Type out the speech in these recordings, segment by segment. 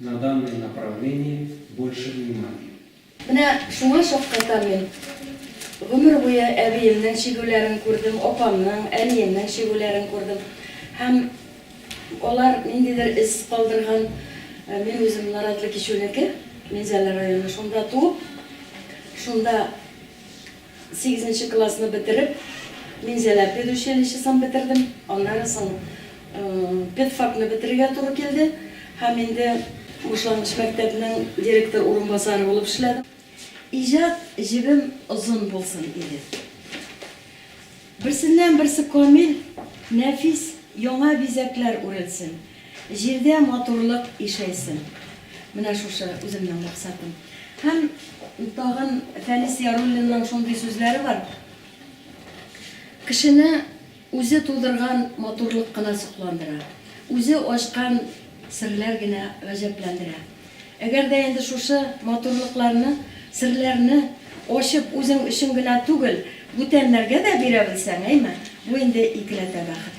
На данное направление больше внимания. Менә шуңа шаккатам мин. Гомер буе әбиемнең чигүләрен күрдем, апамның, әниемнең чигүләрен күрдем. Һәм алар ниндидер эз калдырган. Мин үзем Наратлы Кичүнеке, Минзәлә районы. Шунда туып, шунда. Сигезенче классны бетереп, Минзәлә педучилищесын бетердем. Аннары соң педфакны бетерергә туры килде һәм инде башлангыч мәктәпнең директор урынбасары булып эшләдем. Иҗат җебем озын булсын иде. Берсеннән-берсе камил, нәфис яңа бизәкләр үрелсен. Җирдә матурлык ишәйсен. Менә шушы үземнең максатым. Һәм тагын Фәнис Яруллинның шундый сүзләре бар, Кешене үзе тудырган матурлык кына сокландыра, үзе ачкан серләр генә гаҗәпләндерә. Әгәр дә инде шушы матурлыкларны, серләрне ачып үзең өчен генә түгел, бүтәннәргә дә бирә белсәң, әйме, бу инде икеләтә бәхет.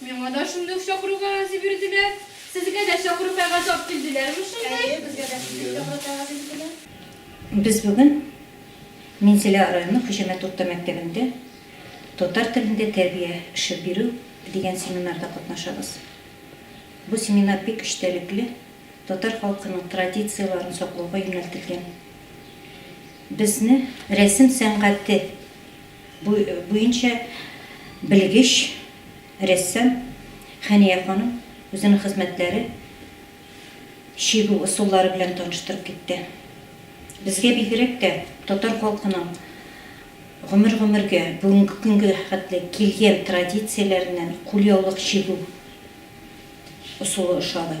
Миңа да шундый ук чакыру кәгазе бирделәр. Сезгә дә чакыру кәгазе алып килделәрме шунда? Әйе, безгә дә шундый ук чакыру кәгазе бирделәр. Без бүген Минзәлә районы Хуҗамәт урта мәктәбендә татар телендә тәрбия эше бирү дигән семинарда катнашабыз. Бу семинар бик эчтәлекле, татар халкының традицияләрен саклауга юнәлтелгән. Безне рәсем сәнгате Бу буенча белгеч рәссам Хәния ханым үзенең хезмәтләре чигү ысуллары белән таныштырып китте. Безгә бигрәк тә татар халкының гомер-гомергә, бүгенге көнгә хәтле килгән традицияләреннән кулъяулык чигү ысулы ошады.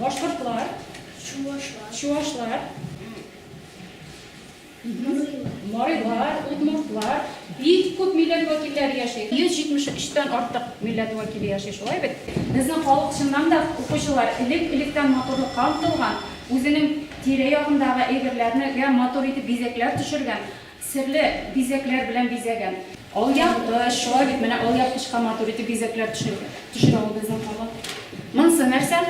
Башкортлар. Чувашлар. Чувашлар. Марилар, удмуртлар, бик күп милләт вәкилләре яши. 173 тән артык милләт вәкиле яши, шулай бит? Безнең халык чыннан да укучылар элек-электән матурлыкка омтылган, үзенең тирә-ягындагы әйберләрне матур итеп бизәкләр төшергән. Серле бизәкләр белән бизәгән. Алъяпкыч, шулай бит, менә алъяпкычка матур итеп бизәкләр төшерә ул безнең халык. Монысы нәрсә?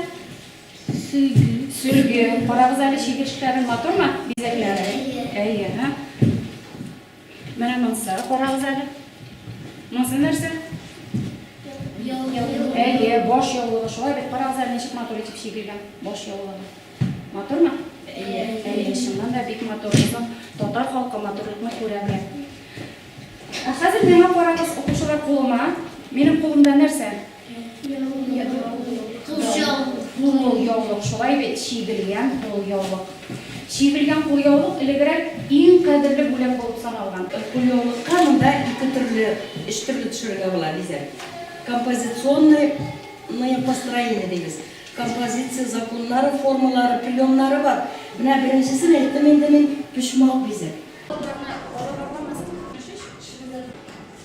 Сөлге. Сөлге. Карагыз әле чигерешләрен, матурмы бизәкләре? Әйе. Әйе. Менә монысы, карагыз әле. Монысы нәрсә? Яулык. Әйе, баш яулыгы. Шулай бит, карагыз әле, ничек матур итеп чигелгән баш яулыгы. Матурмы? Әйе, әйе, чыннан да бик матур. Безнең татар халкы матурлыкны күрә белә. Ә хәзер миңа карагыз, укучылар кулыма. Минем кулымда нәрсә? Кулъяулык. яулык, шулай бит, чигелгән кулъяулык. Чигелгән кулъяулык элегрәк иң кадерле бүләк булып саналган. Кулъяулыкка монда ике төрле, өч төрле төшерергә була бизәк. Композиционное построение дибез. Композиция, законнары, формалары, приемнары бар. Менә беренчесен әйттем инде мин, почмак бизәк.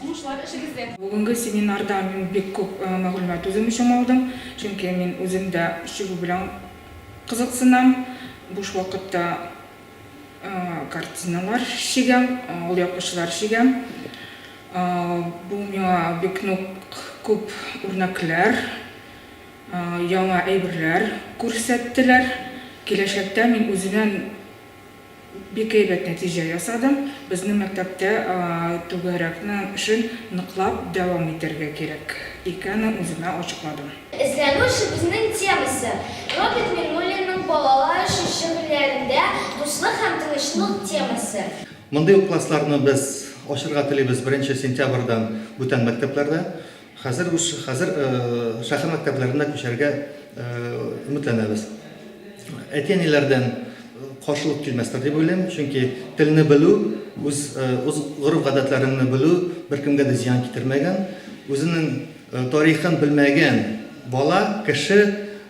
Уңышлар эшегездә! Бүгенге семинардан мин бик күп мәгълүмат үзем өчен алдым, чөнки мин үзем дә чигү белән кызыксынам, буш вакытта картиналар чигәм, алъяпкычлар чигәм. Бу миңа бик нык күп үрнәкләр. Яңа әйберләр күрсәттеләр. Киләчәктә мин үзеннән бик әйбәт нәтиҗә ясадым. Безнең мәктәптә түгәрәкне эшен ныклап дәвам итәргә кирәк икәнен үземә ачыкладым. Эзләнү эшебезнең темасы, Роберт Миңнуллинның балалар өчен шигырьләрендә дуслык һәм тынычлык темасы. Мондый ук классларны без ачырга телибез беренче сентябрьдән бүтән мәктәпләрдә. Хәзер үз хәзер шәһәр мәктәпләренә күчәргә өметләнәбез. Әти-әниләрдән каршылык килмәстер дип уйлыйм, чөнки телне белү, үз үз гореф-гадәтләреңне белү беркемгә дә зыян китермәгән. Үзенең тарихын белмәгән бала, кеше